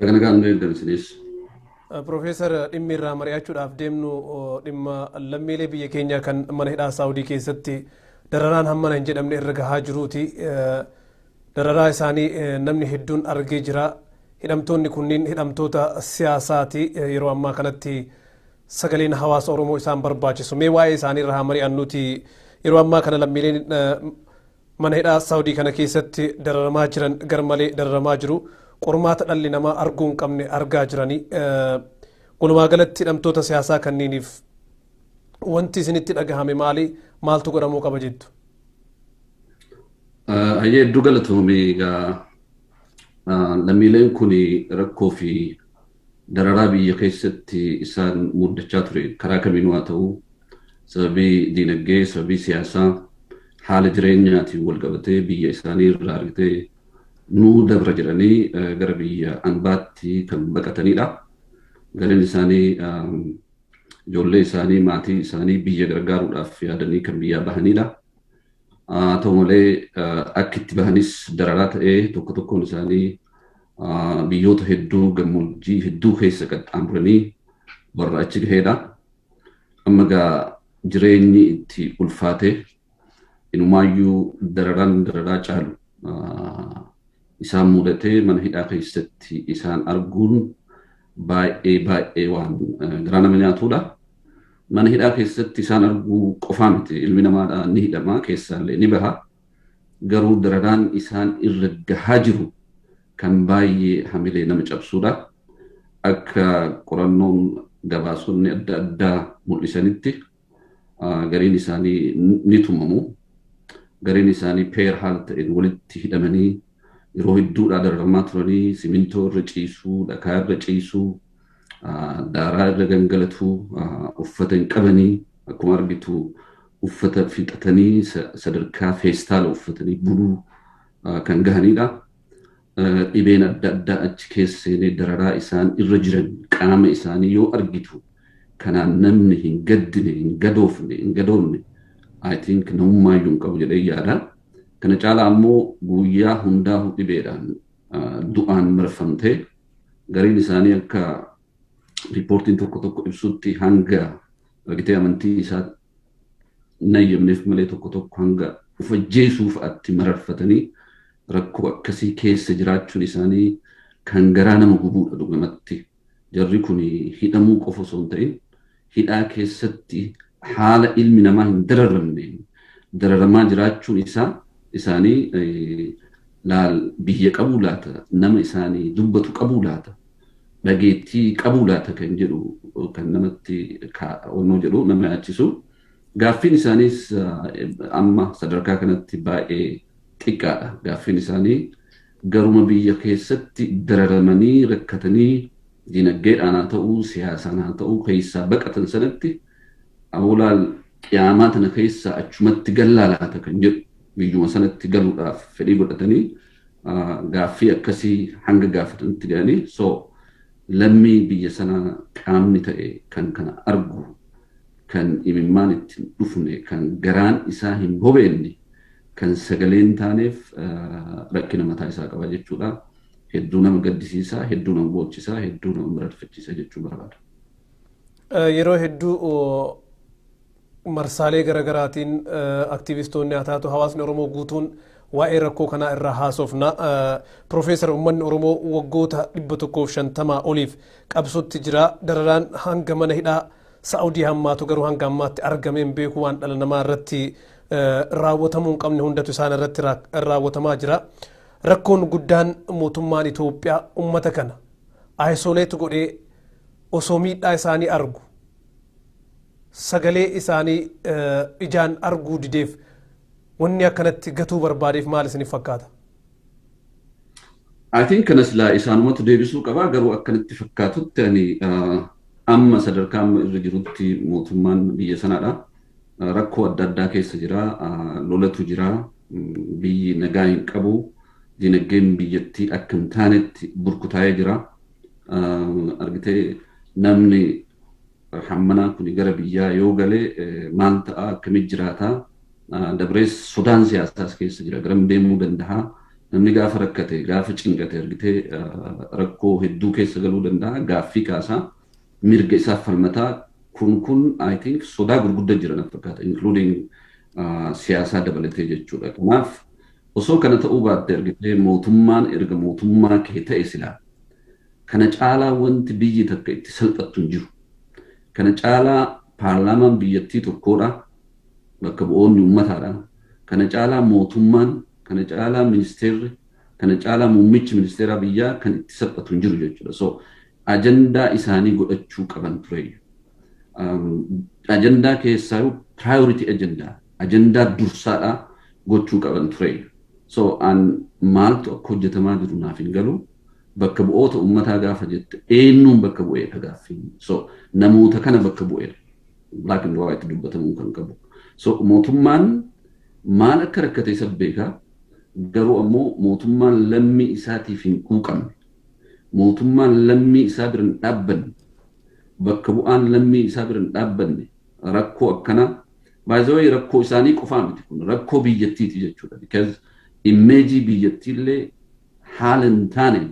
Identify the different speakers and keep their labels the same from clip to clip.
Speaker 1: Baga
Speaker 2: nagaan nu eegdan isinis. Piroofeesar
Speaker 1: dhimmi irraa mari'achuudhaaf deemnu dhimma lammiilee biyya keenyaa kan mana hidhaa Saawudii keessatti dararaan hammana hin jedhamne irra gahaa jiruuti. Dararaa isaanii namni hedduun argee jira. Hidhamtoonni kunniin hidhamtoota siyaasaati yeroo ammaa kanatti sagaleen hawaasa Oromoo isaan barbaachisu. Mee waa'ee isaanii irraa haa mari'annuuti yeroo ammaa kana lammiileen Mana hidhaa Saawdii kana keessatti dararamaa jiran garmalee dararamaa jiru. Qormaata dhalli namaa arguu hin qabne argaa jirani. Walumaa galatti hidhamtoota siyaasaa kanniiniif wanti isinitti dhagahame maali? Maaltu godhamuu qaba jettu?
Speaker 2: Ayyee hedduu galatoomii egaa lammiileen kun rakkoo fi Dararaa biyya keessatti isaan muddachaa ture karaa kamiinuu haa ta'u sababii diinagdee, sababii siyaasaa, haala jireenyaatiin walqabatee biyya isaanii irraa argitee nuu dabra jedhanii gara biyya ambaatti kan baqatanidha. Gariin isaanii ijoollee isaanii, maatii isaanii biyya gargaaruudhaaf yaadanii kan biyyaa bahanidha. Haa ta'u malee akki itti bahanis dararaa ta'ee tokko tokkoon isaanii biyyoota hedduu gammoojjii hedduu keessa qaxxaamuranii warra achi gaheedha. Amma egaa jireenyi itti ulfaatee inumaayyuu dararaan dararaa caalu isaan mudatee mana hidhaa keessatti isaan arguun baay'ee baay'ee waan garaa nama nyaatuudha. Mana hidhaa keessatti isaan arguu qofaa miti ilmi namaadha ni hidhama keessaallee ni baha garuu dararaan isaan irra gahaa jiru kan baay'ee hamilee nama cabsuudha. Akka qorannoon gabaasonni adda addaa mul'isanitti gariin isaanii ni tumamu. Gariin isaanii peer haala ta'een walitti hidhamanii yeroo hedduudhaa dararamaa turanii simintoo irra ciisuu, dhakaa irra ciisuu, daaraa irra gangalatu uffata hin qabanii akkuma argitu uffata fixatanii sadarkaa feestaala uffatanii buluu kan gahanidha. Dhibeen adda addaa achi keessa seenee dararaa isaan irra jiran qaama isaanii yoo argitu kanaan namni hin gaddine hin gadoofne hin gadoomne I think namummaa iyyuu hin qabu jedhee yaada. Kana caalaa ammoo guyyaa hundaa'u dhibeedhaan du'aan marfamtee gariin isaanii akka riippoortiin tokko tokko ibsutti hanga argitee amantii isaa nayyamneef malee tokko tokko hanga of ajjeesuu fa'atti mararfatanii rakkoo akkasii keessa jiraachuun isaanii kan garaa nama gubuudha dhugamatti. Jarri kun hidhamuu qofa osoo hin ta'in hidhaa keessatti haala ilmi namaa hin dararamneen dararamaa jiraachuun isaa isaanii laal biyya qabuu laata nama isaanii dubbatu qabuu laata dhageettii qabuu laata kan jedhu kan namatti onnoo jedhu nama yaachisu gaaffiin isaaniis amma sadarkaa kanatti baay'ee xiqqaadha gaaffiin isaanii Garuma biyya keessatti dararamanii, rakkatanii, dinagdeedhaan haa ta'uu, siyaasaan haa ta'uu keessaa baqatan sanatti aboo laal qiyaamaa tana keessaa achumatti gallaa laata kan jedhu biyyuma sanatti galuudhaaf fedhii godhatanii gaaffii akkasii hanga gaafatanutti ga'anii so lammii biyya sanaa qaamni ta'e kan kana argu kan imimmaan itti hin dhufne, kan garaan isaa hin bobeenne, kan sagalee hin taaneef rakkina mataa isaa qaba jechuudha. Hedduu nama gaddisiisa, hedduu nama boochisa, hedduu nama mararfachiisa jechuu barbaada.
Speaker 1: Yeroo hedduu marsaalee garaagaraatiin aktiivistoonni haa taatu hawaasni Oromoo guutuun waa'ee rakkoo kanaa irraa haasofna. Piroofeesar uummanni Oromoo waggoota 150 oliif qabsootti jira. Dararaan hanga mana hidhaa Sa'udii hammaatu garuu hanga ammaatti argamee hin beeku waan dhala namaa irratti raawwatamuu hin qabne hundatu isaan irratti raawwatamaa jira. Rakkoon guddaan mootummaan Itoophiyaa uummata kana ayisoleet godhee osoo miidhaa isaanii argu sagalee isaanii ijaan arguu dideef wanni akkanatti gatuu barbaadeef maal isiniif fakkaata?
Speaker 2: I think kana silaa isaanumatu deebisuu qabaa garuu akkanitti fakkaatutti ani amma sadarkaa amma irra jirutti mootummaan biyya sanaadha. Rakkoo adda addaa keessa jira, lolatu jira, biyyi nagaa hin qabu, dinagdeen biyyattii akka hin taanetti burkutaa'ee jira. Argitee namni Hammanaan kun gara biyyaa yoo gale maal ta'a? Akkamitti jiraata? Dabrees sodaan siyaasaas keessa jira. Garam deemuu danda'a? Namni gaafa rakkate, gaafa cinqate argitee rakkoo hedduu keessa galuu danda'a. Gaaffii kaasa. Mirga isaaf falmata. Kun kun I think sodaa gurgudda jira na fakkaata including siyaasaa dabalatee jechuudha. Kanaaf Osoo kana ta'uu baatte argitee mootummaan erga mootummaa kee ta'e silaa kana caalaa wanti biyyi takka itti salphattu hin jiru. Kana caalaa paarlaamaan biyyattii tokkoodha, bakka bu'oonni ummataadha. Kana caalaa mootummaan, kana caalaa ministeerri, kana caalaa muummichi ministeeraa biyyaa kan itti salphatu hin jiru jechuudha. So ajandaa isaanii godhachuu qaban tureeyyu. Ajandaa keessaayuu priority ajandaa ajandaa dursaadhaa gochuu qaban ture. So an maaltu akka hojjetamaa jiru naaf hin galu. Bakka bu'oota ummataa gaafa jette eenyuun bakka bu'eedha gaaffiin. So namoota kana bakka bu'eedha. Black and white dubbatamuu kan qabu. So mootummaan maal akka rakkate isa beeka. Garuu ammoo mootummaan lammii isaatiif hin quuqamne. Mootummaan lammii isaa bira hin dhaabbanne. Bakka bu'aan lammii isaa bira hin dhaabbanne rakkoo akkanaa By the way rakkoo isaanii qofaa miti kun rakkoo biyyattiiti jechuudha because immeejii biyyattiillee haala hin taane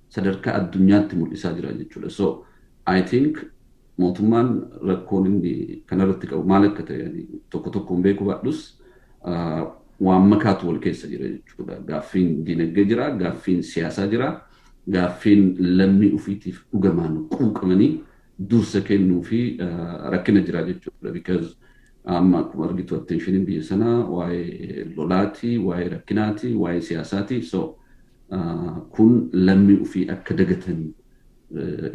Speaker 2: sadarkaa addunyaatti mul'isaa jira jechuudha so I think mootummaan rakkoon inni kanarratti qabu maal akka ta'e ani tokko tokkoon beekuu baadhus ah, waan makaatu wal keessa jira jechuudha gaaffiin dinagdee jira gaaffiin siyaasaa jira gaaffiin lammii ofiitiif dhugamaan quuqamanii dursa kennuu fi rakkina jira jechuudha because amma akkuma argitu attentionin biyya sanaa waa'ee lolaati waa'ee rakkinaati waa'ee siyaasaati so kun lammii ofii akka dagatan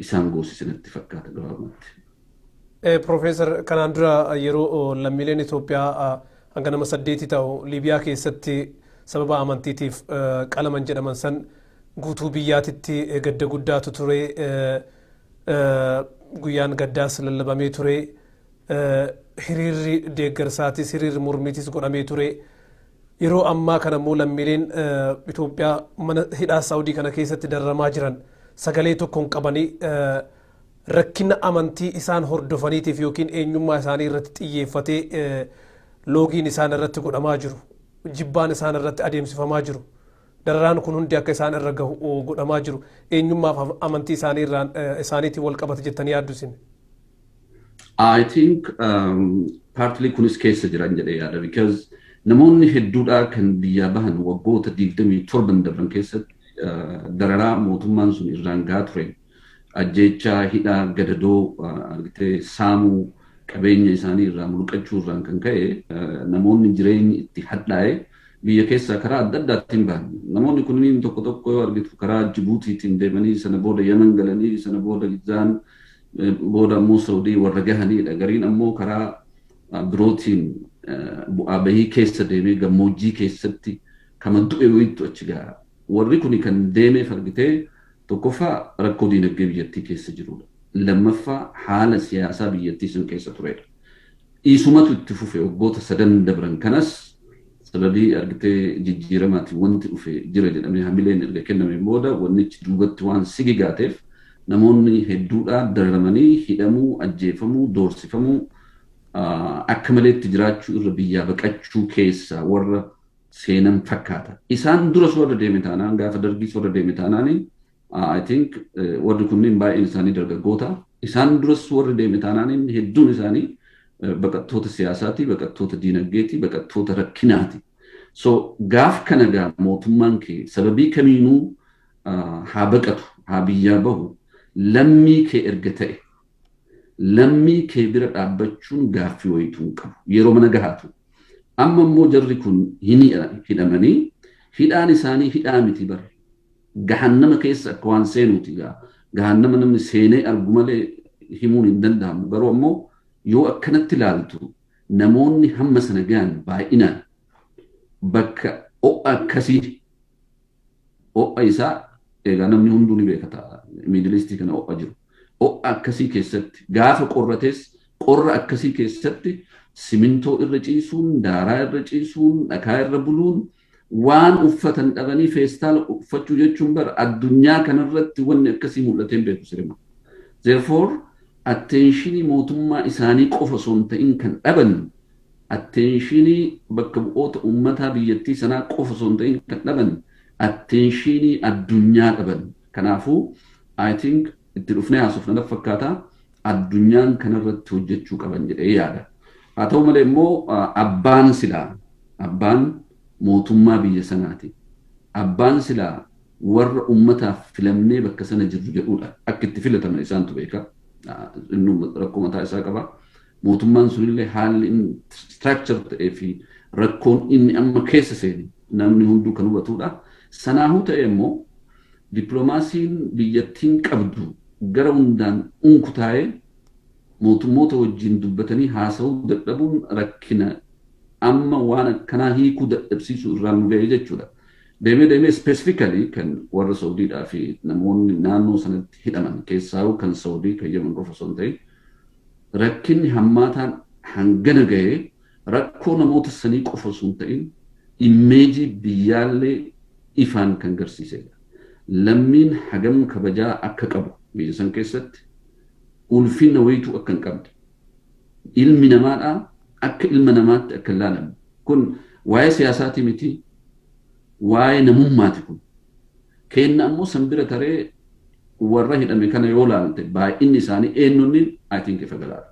Speaker 2: isaan goosise natti fakkaata gabaabumatti.
Speaker 1: Profeesar kanaan dura yeroo lammiileen Itoophiyaa hanga nama saddeeti ta'u Liibiyaa keessatti sababa amantiitiif qalaman jedhaman san guutuu biyyaatitti gadda guddaatu ture. guyyaan gaddaas lallabamee ture hiriirri deeggarsaatis hiriirri mormiitis godhamee ture yeroo ammaa kana immoo lammiileen Itoophiyaa mana hidhaa Saawudii kana keessatti dararamaa jiran sagalee tokko hin qabanii rakkina amantii isaan hordofaniitiif yookiin eenyummaa isaanii irratti xiyyeeffatee loogiin isaan irratti godhamaa jiru jibbaan isaan irratti adeemsifamaa jiru Dararaan kun hundi akka isaan irra gahu godhamaa jiru eenyummaa fi amantii isaanii irraan isaaniitiin wal qabata jettanii yaaddu isin?
Speaker 2: I think um, partly kunis keessa jiran jedhee yaada because namoonni hedduudhaa kan biyyaa bahan waggoota 27 darban keessatti uh, dararaa mootummaan sun irraan gahaa ture ajjeechaa, hidhaa, gadadoo, argitee saamuu, qabeenya isaanii irraa mulqachuu irraan kan ka'e namoonni jireenyi itti hadhaa'e biyya keessaa karaa adda addaatiin bahan. Namoonni kunniin tokko tokko yoo argitu karaa Jibuutiitiin deemanii sana booda Yaman galanii sana booda Gizzaan booda ammoo Saudii warra gahaniidha. Gariin ammoo karaa birootiin bu'aa bahii keessa deemee gammoojjii keessatti kama du'e wayittu achi gaha. Warri kuni kan deemeef argitee Tokkoffaa rakkoo diinagdee biyyattii keessa jiruudha. Lammaffaa haala siyaasaa biyyattii san keessa tureedha. Isumatu itti fufe waggoota sadan dabran kanas sababii argitee jijjiiramaatiin wanti dhufe jira jedhamee hamileen erga kennameen booda wannichi duubatti waan sigigaateef namoonni hedduudhaa dararamanii hidhamuu, ajjeefamuu, doorsifamuu, akka maleetti jiraachuu irra biyyaa baqachuu keessaa warra. seenan fakkaata. Isaan dura soo irra deeme taanaan gaafa dargii soo irra deeme taanaan I think warri kunniin baay'een isaanii dargaggoota. Isaan duras warri deeme taanaan hedduun isaanii baqattoota siyaasaati, baqattoota diinagdeeti, baqattoota rakkinaati. So gaaf kana gaa mootummaan kee sababii kamiinuu haa baqatu, haa biyyaa bahu, lammii kee erga ta'e Lammii kee bira dhaabbachuun gaaffii wayiituu hin qabu. Yeroo mana gahaatu. Amma immoo jarri kun hin hidhamanii hidhaan isaanii hidhaa miti bar. Gahannama keessa akka waan seenuuti gaa. Gahannama namni seenee argu malee himuun hin danda'amu. Garuu ammoo yoo akkanatti ilaaltu namoonni hamma sana gahan baay'inaan bakka ho'a akkasii Ho'a isaa egaa namni hunduu ni beeka ta'a middle east kana ho'a jiru. Ho'a akkasii keessatti gaafa qorrates qorra akkasii keessatti simintoo irra ciisuun, daaraa irra ciisuun, dhakaa irra buluun waan uffatan dhabanii feestaala uffachuu jechuun bar addunyaa kanarratti wanni akkasii mul'atee hin beeku sirima. Therefore atteenshinii mootummaa isaanii qofa osoo hin ta'in kan dhaban atteenshiinii bakka bu'oota uummataa biyyattii sanaa qofa osoo hin ta'in kan dhaban atteenshiinii addunyaa dhaban. Kanaafuu I think itti dhufnee haasofna natti fakkaata. Addunyaan kanarratti hojjechuu qaban jedhee yaada. Haa ta'u malee immoo abbaan silaa abbaan mootummaa biyya sanaati. Abbaan silaa warra uummataaf filamnee bakka sana jirru jedhuudha. Akka itti filataman isaantu beeka. Innuu rakkoo mataa isaa qaba. Mootummaan sunillee haalli inni structure ta'ee fi rakkoon inni amma keessa seene namni hunduu kan hubatudha. Sanaahuu ta'ee immoo dippiloomaasiin biyyattiin qabdu gara hundaan unkutaa'ee mootummoota wajjin dubbatanii haasa'uu dadhabuun rakkina amma waan akkanaa hiikuu dadhabsiisuu irraan nu ga'e jechuudha. Deemee deemee specifically kan warra Saudiidhaa fi namoonni naannoo sanatti hidhaman keessaahuu kan Saudii kan Yemen qofa osoo hin ta'in Rakkinni hammaataan hangana gahe rakkoo namoota sanii qofa osoo hin ta'in immeejii biyyaallee ifaan kan garsiisedha. Lammiin hagam kabajaa akka qabu biyya san keessatti ulfinna wayituu akka hin qabne, ilmi namaadhaa akka ilma namaatti akka hin laalamne kun waa'ee siyaasaatii miti. Waa'ee namummaati kun. Keenna ammoo san bira taree warra hidhame kana yoo laalte baay'inni isaanii eennunni I think ifa galaadha.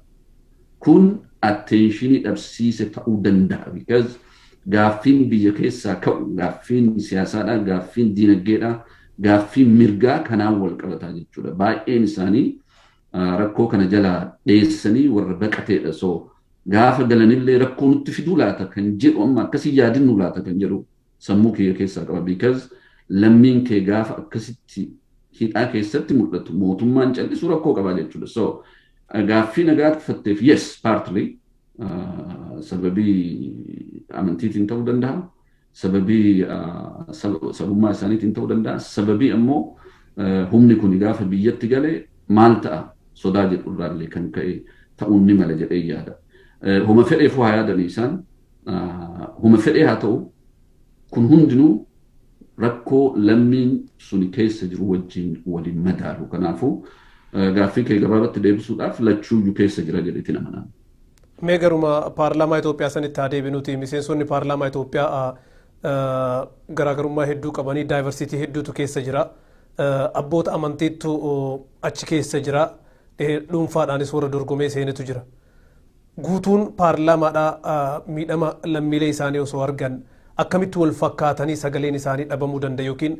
Speaker 2: Kun atteenshinii dhabsiise ta'uu danda'a because gaaffiin biyya keessaa ka'u gaaffiin siyaasaadha, gaaffiin diinaggeedha, gaaffiin mirgaa kanaan wal qabataa jechuudha. Baay'een isaanii rakkoo kana jalaa dheessanii warra baqateedha so Gaafa galanillee rakkoo nutti fiduu laata kan jedhu amma akkas hin yaadinnuu laata kan jedhu sammuu kiyya keessaa qaba because lammiin kee gaafa akkasitti hidhaa keessatti mul'atu mootummaan callisu rakkoo qabaa jechuudha. So gaaffii na gaaffatteef yes partly sababii amantiitiin ta'uu danda'a. sababii sabummaa isaaniitiin ta'uu danda'a. Sababii ammoo humni kun gaafa biyyatti gale maal ta'a sodaa jedhu irraallee kan ka'e ta'uun ni mala jedhee yaada. Homa fedheefuu haa yaadanii isaan homa fedhee haa ta'u kun hundinuu rakkoo lammiin suni keessa jiru wajjin waliin madaalu. Kanaafuu gaaffii kee gabaabatti deebisuudhaaf lachuuyyuu keessa jira jedheetiin amanaan. Mee garuma
Speaker 1: paarlaamaa Itoophiyaa sanitti haa deebinuti. Miseensonni paarlaamaa Itoophiyaa garaagarummaa hedduu qabanii daayivarsiitii hedduutu keessa jira. Abboota amantiittu achi keessa jira. Dhuunfaadhaanis warra dorgomee seenetu jira. Guutuun paarlaamaadhaa miidhama lammiilee isaanii osoo argan akkamitti wal fakkaatanii sagaleen isaanii dhabamuu danda'a yookiin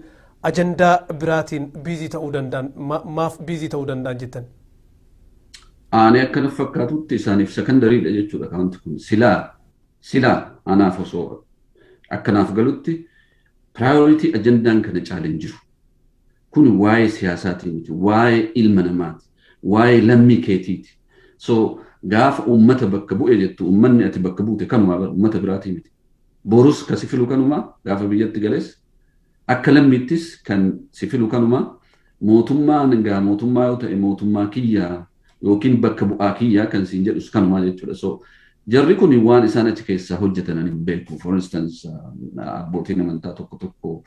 Speaker 1: ajandaa biraatiin biizii ta'uu danda'an maaf biizii ta'uu danda'an jettan?
Speaker 2: aanee akka naf fakkaatutti isaaniif sekondariidha jechuudha akaawunti kun silaa silaa anaaf osoo akka naaf galutti piraayoritii ajandaan kana caale hin jiru. Kun waa'ee siyaasaatii miti, waa'ee ilma namaati, waa'ee lammii keetiiti. So gaafa uummata bakka bu'e jettu uummanni ati bakka buute kanumaa bara uummata biraatii miti. Borus kasi filu kanumaa gaafa biyyatti gales Akka lammiittis kan si filu kanuma. Mootummaan egaa mootummaa yoo ta'e mootummaa kiyya yookiin bakka bu'aa kiyya kan siin jedhus kanuma jechuudha. So jarri kun waan isaan achi keessaa hojjetan ani hin beeku. For instance abbootiin amantaa tokko tokko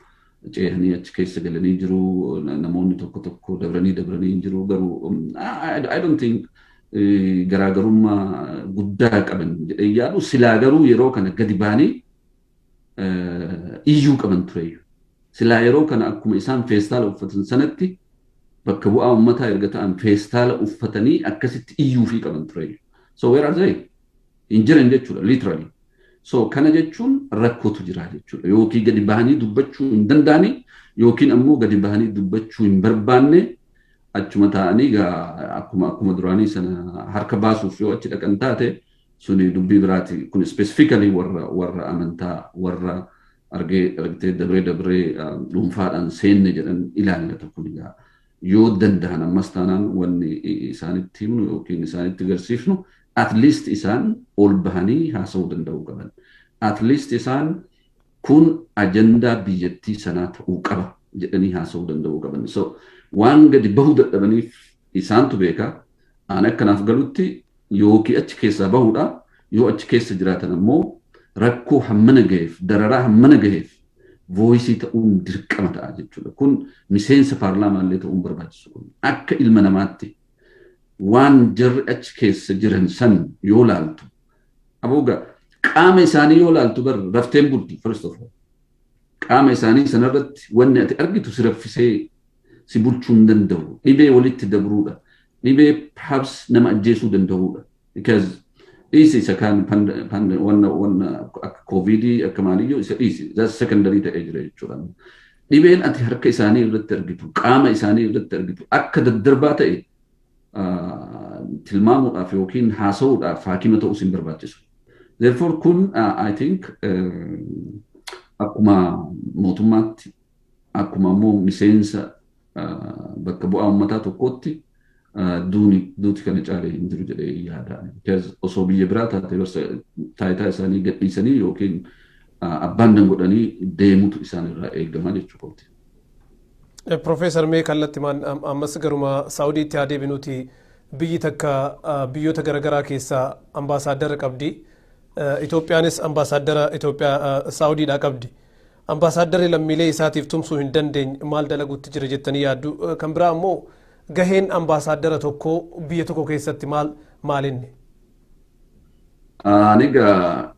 Speaker 2: ceehanii achi keessa galanii jiru. Namoonni tokko tokko dabranii dabranii hin jiru garuu I don't think garaagarummaa guddaa qaban jedhee yaadu silaa garuu yeroo kana gadi baanii iyyuu qaban tureeyyu. Silaa yeroo kana akkuma isaan feestaala uffatan sanatti bakka bu'aa ummataa erga ta'an feestaala uffatanii akkasitti iyyuufii qaban tureeyyu. So where are they? Hin jiran jechuudha literally. So kana jechuun rakkootu jira jechuudha. Yookiin gadi bahanii dubbachuu hin danda'anii yookiin ammoo gadi bahanii dubbachuu hin barbaanne achuma taa'anii akkuma akkuma duraanii sana harka baasuuf yoo achi dhaqan taate suni dubbii biraati kun specifically warra warra amantaa warra argee argitee dabree dabree dhuunfaadhaan seenne jedhan ilaallata kun egaa yoo danda'an ammas taanaan wanni isaanitti himnu yookiin isaanitti garsiifnu at least isaan ol bahanii haasa'uu danda'uu qaban at least isaan kun ajandaa biyyattii sanaa ta'uu qaba jedhanii haasa'uu danda'uu qaban so waan gadi bahuu dadhabaniif isaantu beeka aan akkanaaf galutti ykn achi keessaa bahuudha. Yoo achi keessa jiraatan ammoo rakkoo hammana gaheef, dararaa hammana gaheef voice ta'uun dirqama ta'a jechuudha. Kun miseensa paarlaamaa illee ta'uun barbaachisu kun akka ilma namaatti waan jarri achi keessa jiran san yoo laaltu aboo qaama isaanii yoo laaltu bar rafteen bulti first of all. qaama isaanii sana irratti wanni ati argitu si raffisee si bulchuu hin danda'u. Dhibee walitti dabruudha. Dhibee perhaps nama ajjeesuu danda'uudha. Because dhiisi isa kaan wanna wanna akka kooviidii akka maaliyyuu isa dhiisi. That's secondary ta'ee jira jechuudha. Dhibeen ati harka isaanii irratti argitu, qaama isaanii irratti argitu akka daddarbaa ta'e tilmaamuudhaaf yookiin haasa'uudhaaf haakima ta'uu isin barbaachisu. Therefore kun I think akkuma mootummaatti akkuma immoo miseensa bakka bu'aa uummataa tokkootti duuni duuti kana caalee hin jiru jedhee yaada. Osoo biyya biraa taatee barsa taayitaa isaanii gadhiisanii yookiin abbaan dangodhanii deemutu isaan irraa eegama jechuudha.
Speaker 1: Profeesar mee kallattimaan ammas garuma Saawudiitti haa deebinuuti biyyi takka biyyoota garaagaraa keessaa ambaasaaddara qabdi. Itoophiyaanis ambaasaaddara Itoophiyaa Saawudiidhaa qabdi. Ambaasaaddarri lammiilee isaatiif tumsuu hin dandeenye maal dalaguutti jira jettanii yaaddu. Kan biraa ammoo gaheen ambaasaaddara tokkoo biyya tokko keessatti maal maalinni?
Speaker 2: Ani egaa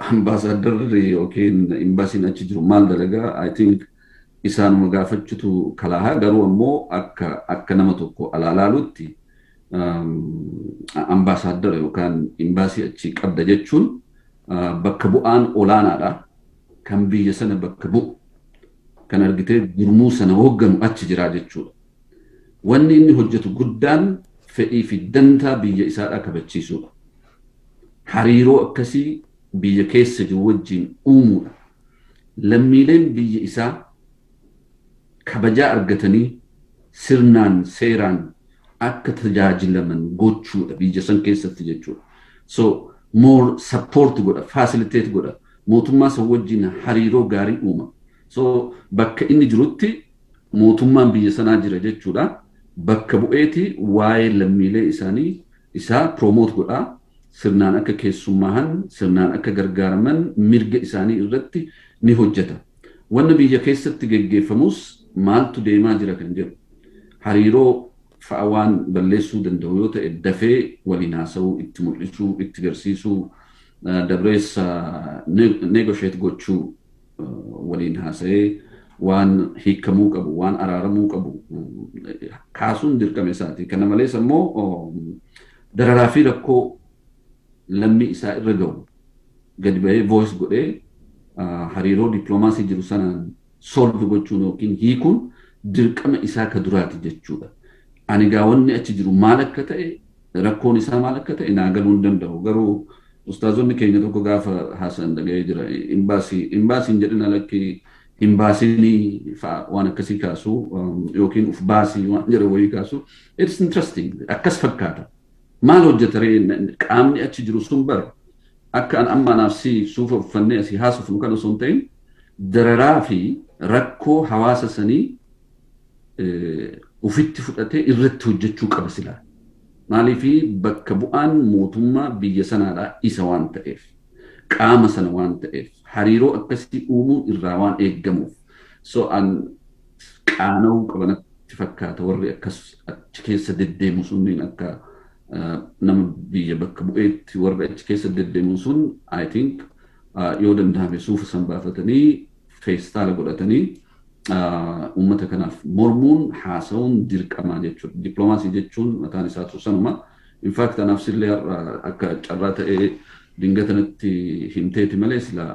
Speaker 2: ambaasaaddarri yookiin imbaasiin achi jiru maal dalagaa I think isaanuma gaafachutu kalaahaa garuu ammoo akka akka nama tokko alaalaalutti ambaasaaddara yookaan imbaasii achi qabda jechuun bakka bu'aan olaanaadha kan biyya sana bakka bu'u kan argitee gurmuu sana hoogganu achi jiraa jechuudha. Wanni inni hojjatu guddaan fedhii fi dantaa biyya isaadhaa kabachiisuudha. Hariiroo akkasii biyya keessa jiru wajjiin uumuudha. Lammiileen biyyi isaa kabajaa argatanii sirnaan, seeraan akka tajaajilaman gochuudha biyya san keessatti jechuudha. So, more support godha, facilitate godha. Mootummaa san wajjiin hariiroo gaarii uuma. So, bakka inni jirutti mootummaan biyya sanaa jira jechuudha bakka bu'eeti waa'ee lammiilee isaanii isaa promote godha sirnaan akka keessummaahan sirnaan akka gargaaraman mirga isaanii irratti ni hojjeta wanna biyya keessatti geggeeffamus maaltu deemaa jira kan jedhu hariiroo fa'a waan balleessuu danda'u yoo ta'e dafee waliin haasa'uu itti mul'isuu itti garsiisuu dabreessa negotiate gochuu waliin haasa'ee waan hiikamuu qabu, waan araaramuu qabu kaasuun dirqama isaati. Kana malees ammoo dararaa fi rakkoo lammii isaa irra gahu gadi bahee voice godhee hariiroo dippiloomaasii jiru sanaan solve gochuun yookiin hiikuun dirqama isaa ka duraati jechuudha. Ani gaa wanni achi jiru maal akka ta'e Rakkoon isaa maal akka ta'e naa galuu hin danda'u. Garuu ustaazonni keenya tokko gaafa haasa'an dhaga'ee jira. Imbaasii, imbaasii hin jedhina lakkii hin baasinii fa'a waan akkasii kaasu yookiin uf baasii waan jedhan wayii kaasu. It's interesting. Akkas fakkaata. Maal hojjeta ree qaamni achi jiru sun bar akka an amma anaaf si suufa uffannee asii haasofnu kan osoo hin ta'in dararaa fi rakkoo hawaasa sanii ofitti fudhatee irratti hojjechuu qaba silaa. Maaliif bakka bu'aan mootummaa biyya sanaadhaa isa waan ta'eef, qaama sana waan ta'eef, hariiroo akkasii uumuun irraa waan eeggamuuf. So an qaana'uu qaba natti fakkaata warri akkas achi keessa deddeemu sunniin akka nama biyya bakka bu'eetti warri achi keessa deddeemu sun I think yoo danda'ame suufa san baafatanii feestaala godhatanii uummata kanaaf mormuun haasa'uun dirqamaa jechuudha. Dippiloomaasii jechuun mataan isaatu sanuma. Infaakti anaaf sillee har'a akka carraa ta'ee dingatanatti himteeti malee sila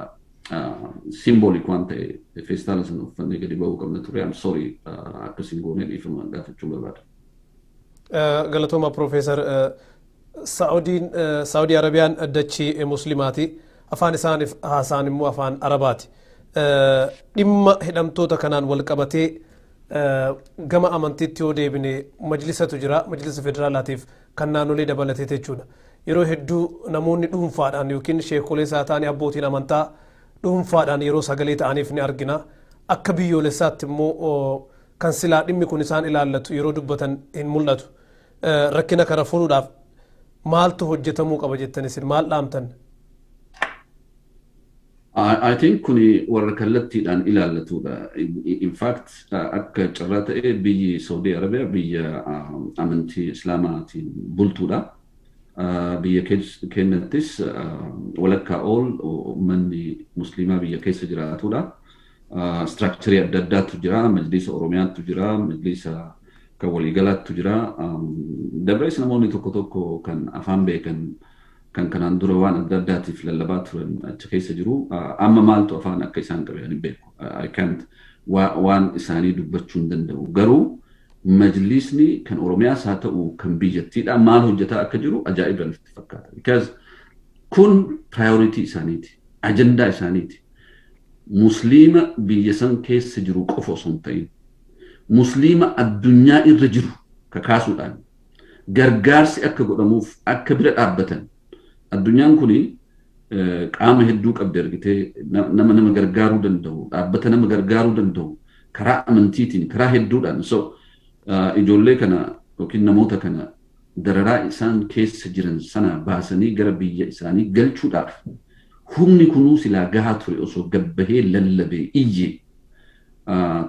Speaker 2: simboolik waan ta'e feestaala sana uffannee gadi ba'uu qabna ture. I'm sorry akka simboonee dhiifama gaafachuu barbaada.
Speaker 1: Galatooma Piroofeesar Sa'udiin, Saudi Arabiyaan dachii Muslimaati. Afaan isaaniif haasaan immoo afaan Arabaati. Dhimma hidhamtoota kanaan wal qabatee gama amantiitti yoo deebine majlisatu jira. Majlisa federaalaatiif kan naannolee dabalatee jechuudha. Yeroo hedduu namoonni dhuunfaadhaan yookiin sheekolee isaa ta'anii abbootiin amantaa dhuunfaadhaan yeroo sagalee ta'aniif ni argina. Akka biyyoolessaatti immoo kan silaa dhimmi kun isaan ilaallatu yeroo dubbatan hin mul'atu. Rakkina kana furuudhaaf maaltu hojjetamuu qaba jettan isin maal dhaamtan?
Speaker 2: I think kun warra kallattiidhaan ilaallatudha. In fact akka carraa ta'e biyyi Saudi Arabia biyya amantii Islaamaatiin bultuudha. Biyya keenyattis walakkaa ol uummanni Musliimaa biyya keessa jiraatudha. structure adda addaatu jira. Majliisa Oromiyaatu jira. Majliisa kan waliigalaatu jira. Dabrees namoonni tokko tokko kan afaan beekan kan kanaan dura waan adda addaatiif lallabaa turan achi keessa jiru. Amma maaltu afaan akka isaan qabe ani beeku. I can't waan isaanii dubbachuu hin danda'u. Garuu majliisni kan Oromiyaas haa ta'u kan biyyattiidhaa maal hojjetaa akka jiru ajaa'iba natti fakkaata. Because kun priority isaaniiti. Ajandaa isaaniiti. Musliima biyya san keessa jiru qofa osoo hin ta'in Musliima addunyaa irra jiru kakaasuudhaan gargaarsi akka godhamuuf akka bira dhaabbatan addunyaan kun qaama hedduu qabdi argitee nama nama gargaaruu danda'u dhaabbata nama gargaaruu danda'u karaa amantiitiin karaa hedduudhaan so ijoollee kana yookiin namoota kana dararaa isaan keessa jiran sanaa baasanii gara biyya isaanii galchuudhaaf humni kunuu silaa gahaa ture osoo gad bahee lallabee iyyee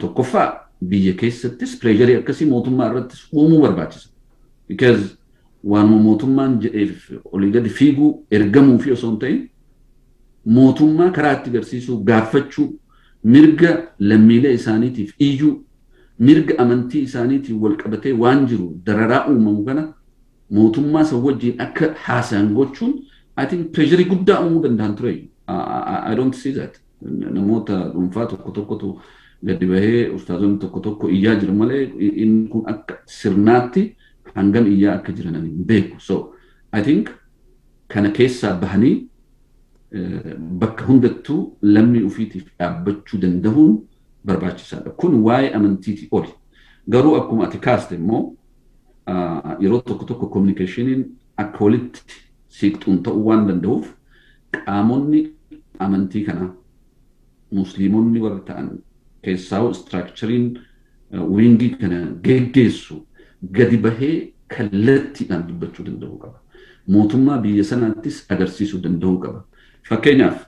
Speaker 2: tokkoffaa biyya keessattis pireesharii akkasii mootummaa irrattis uumuu barbaachisa. Because waanuma mootummaan jedheef olii gadi fiiguu ergamuu fi osoo hin ta'in mootummaa karaa itti garsiisuu gaaffachuu mirga lammiilee isaaniitiif iyyuu mirga amantii isaaniitiin walqabatee waan jiru dararaa uumamu kana mootummaa san wajjiin akka haasayan gochuun I think pireesharii guddaa uumuu danda'an ture. I don't see that. Namoota dhuunfaa tokko tokkotu gadi bahee ustaazonni tokko tokko iyyaa jiru malee inni kun akka sirnaatti hangam iyyaa akka jiran ani hin beeku. So I think kana keessaa bahanii bakka hundattuu lammii ofiitiif dhaabbachuu danda'uun barbaachisaadha. Kun waa'ee amantiitii oli. Garuu akkuma ati kaaste immoo yeroo tokko tokko kominikeeshiniin akka walitti siiqxuun ta'uu waan danda'uuf qaamonni amantii kanaa musliimonni warri ta'an keessaa'u istiraakchariin wiingii kana geggeessu gadi bahee kallattiidhaan dubbachuu danda'uu qaba. Mootummaa biyya sanaattis agarsiisuu danda'uu qaba. Fakkeenyaaf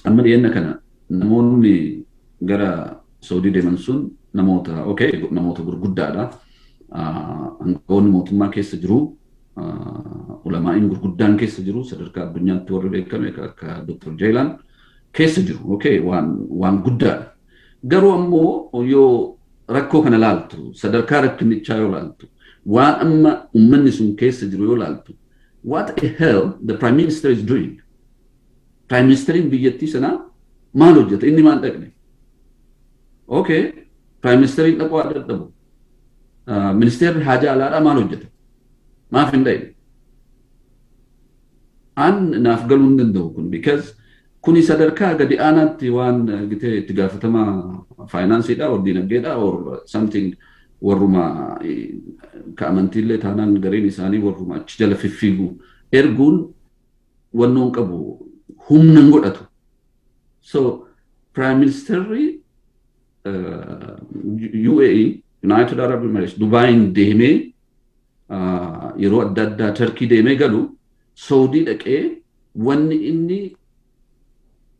Speaker 2: Amma dhiyeenya kana namoonni gara Saudii deeman sun namoota okay namoota gurguddaadha. Hangafoonni mootummaa keessa jiru. Ulamaa'iin gurguddaan keessa jiru sadarkaa addunyaatti warri beekame akka Dr. Jeelaan keessa jiru. Okay waan waan guddaadha. Garuu ammoo yoo rakkoo kana laaltu sadarkaa rakkinichaa yoo laaltu waan amma uummanni sun keessa jiru yoo laaltu what the hell the prime minister is doing Prime Ministeriin biyyattii sanaa maal hojjeta? Inni maal dhaqne? Okay, Prime Ministeriin dhaquu haa dadhabu. Ministeerri haajaa alaadhaa maal hojjeta? Maaf hin dhaqne? An naaf galuu hin danda'u kun because kuni sadarkaa gadi aanaatti waan gitee itti gaafatamaa faayinaansiidha or dinagdeedha or something warruma ka amantiillee taanaan gariin isaanii warruma achi jala fiffiigu erguun wannoon qabu humna hin godhatu. So Prime Ministerri UAE United Arab Emirates Dubaayin deemee yeroo adda addaa Turkii deemee galu Saudii dhaqee wanni inni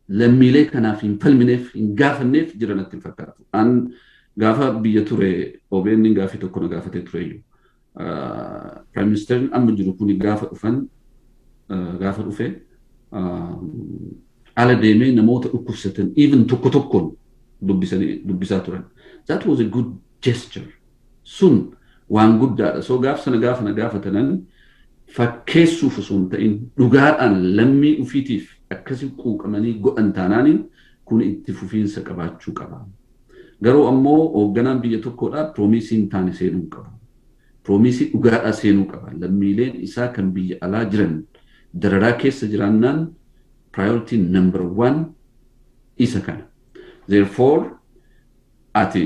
Speaker 2: lammiilee kanaaf hin falmineef hin gaafanneef jira natti hin fakkaatu. An gaafa biyya ture OBN gaafii tokko na gaafatee tureyyuu. Prime Ministerin amma jiru kun gaafa dhufan gaafa dhufe ala deemee namoota dhukkubsatan even tokko tokkoon dubbisaa turan. That was a good gesture. Sun waan guddaadha. So gaaf sana gaafa na gaafatanan fakkeessuuf osoo hin ta'in dhugaadhaan lammii ufiitiif akkasi quuqamanii godhan taanaaniin kun itti fufiinsa qabaachuu qaba. Garuu ammoo hoogganaan biyya tokkoodhaa piroomiisii hin taane seenuu hin qabu. Piroomiisii dhugaadhaa seenuu qaba. Lammiileen isaa kan biyya alaa jiran dararaa keessa jiraannaan priority number one isa kana. Therefore ati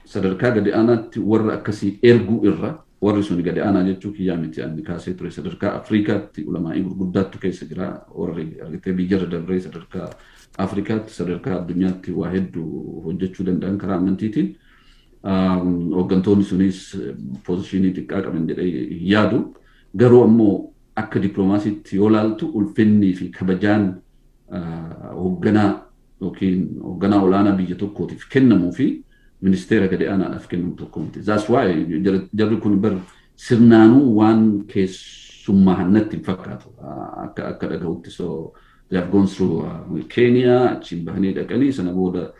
Speaker 2: sadarkaa gadi aanaatti warra akkasii erguu irra Warri suni gadi aanaa jechuu kiyyaa miti anni kaasee ture sadarkaa Afriikaatti ulamaa'ii gurguddaattu keessa jira warri argitee biyyarra dabree sadarkaa Afriikaatti sadarkaa addunyaatti waa heddu hojjechuu danda'an karaa amantiitiin hooggantoonni suniis poozishiinii xiqqaa qaban jedhee hin yaadu garuu ammoo akka diploomaasiitti yoo laaltu ulfinnii fi kabajaan hoogganaa yookiin hoogganaa olaanaa biyya tokkootiif kennamuu fi ministeera gadi aanaadhaaf kennamu tokko miti. That's why jarri kun bar sirnaanuu waan keessummaahan natti hin fakkaatu. Akka akka dhagahutti so they have gone through uh, Kenya achiin bahanii dhaqanii sana booda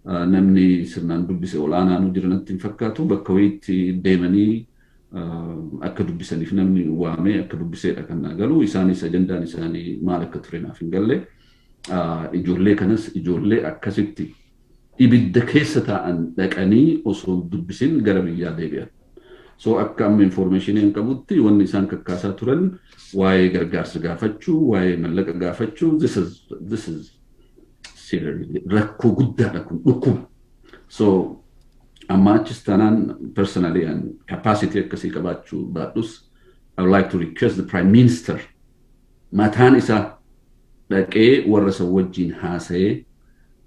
Speaker 2: uh, namni sirnaan dubbise ol'aanaanuu jira natti hin fakkaatu bakka wayiitti deemanii uh, akka dubbisaniif namni waamee akka dubbiseedha kan naa galu isaanis ajandaan isaanii maal akka ture naaf hin galle. Uh, Ijoollee kanas ijoollee akkasitti ibidda keessa taa'an dhaqanii osoo hin dubbisin gara biyyaa deebi'an. So akka amma infoormeeshiniin qabutti wanni isaan kakkaasaa turan waa'ee gargaarsa gaafachuu, waa'ee mallaqa gaafachuu, this is, this is seriously rakkoo guddaadha kun dhukkuba. So amma achis taanaan personally and capacity akkasii qabaachuu baadhus I would like to request the Prime Minister Mataan isaa dhaqee warra san wajjiin haasayee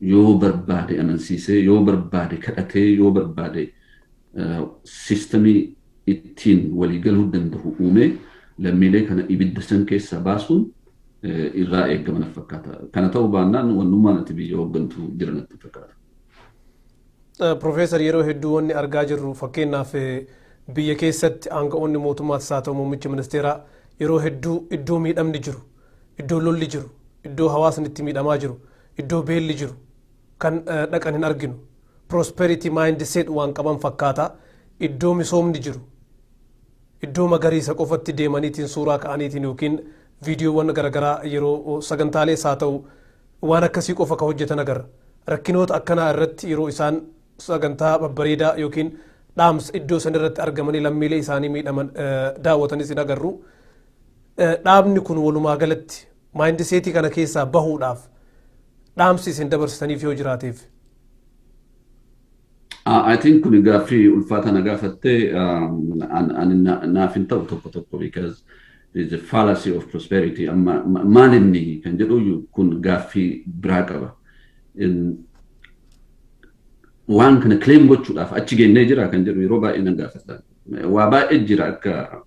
Speaker 2: yoo barbaade amansiisee, yoo barbaade kadhatee, yoo barbaade systemii ittiin walii galuu dandahu uumee lammiilee kana ibidda san keessaa baasuun irraa eegama natti fakkaata. Kana ta'uu baannaan wannummaan ati biyya hooggantu jira natti hin fakkaatu. Profeesar
Speaker 1: yeroo hedduu wanni argaa jirru fakkeenyaaf biyya keessatti aanga'oonni mootummaas haa ta'u muummichi ministeeraa yeroo hedduu iddoo miidhamni jiru, iddoo lolli jiru, iddoo hawaasni itti miidhamaa jiru, iddoo beelli jiru kan dhaqan hin arginu. Prosperity mindset waan qaban fakkaata. Iddoo misoomni jiru, iddoo magariisa qofatti deemaniitiin suuraa ka'aniitiin yookiin viidiyoowwan garaagaraa yeroo sagantaalees haa ta'u waan akkasii qofa ka hojjetan agarra. Rakkinoota akkanaa irratti yeroo isaan sagantaa babbareedaa yookiin dhaamsa iddoo san irratti argamanii lammiilee isaanii miidhaman daawwatanis hin agarru. Dhaabni kun walumaa galatti maayindiseetii kana keessaa bahuudhaaf dhaamsi isin dabarsitaniif yoo jiraateef
Speaker 2: I think kuni gaaffii ulfaataa na gaafattee ani naaf hin ta'u tokko tokko because is a fallacy of prosperity amma maal inni kan jedhu kun gaaffii biraa qaba. Waan kana claim gochuudhaaf achi geennee jira kan jedhu yeroo baay'ee nan gaafadha. Waa baay'ee jira akka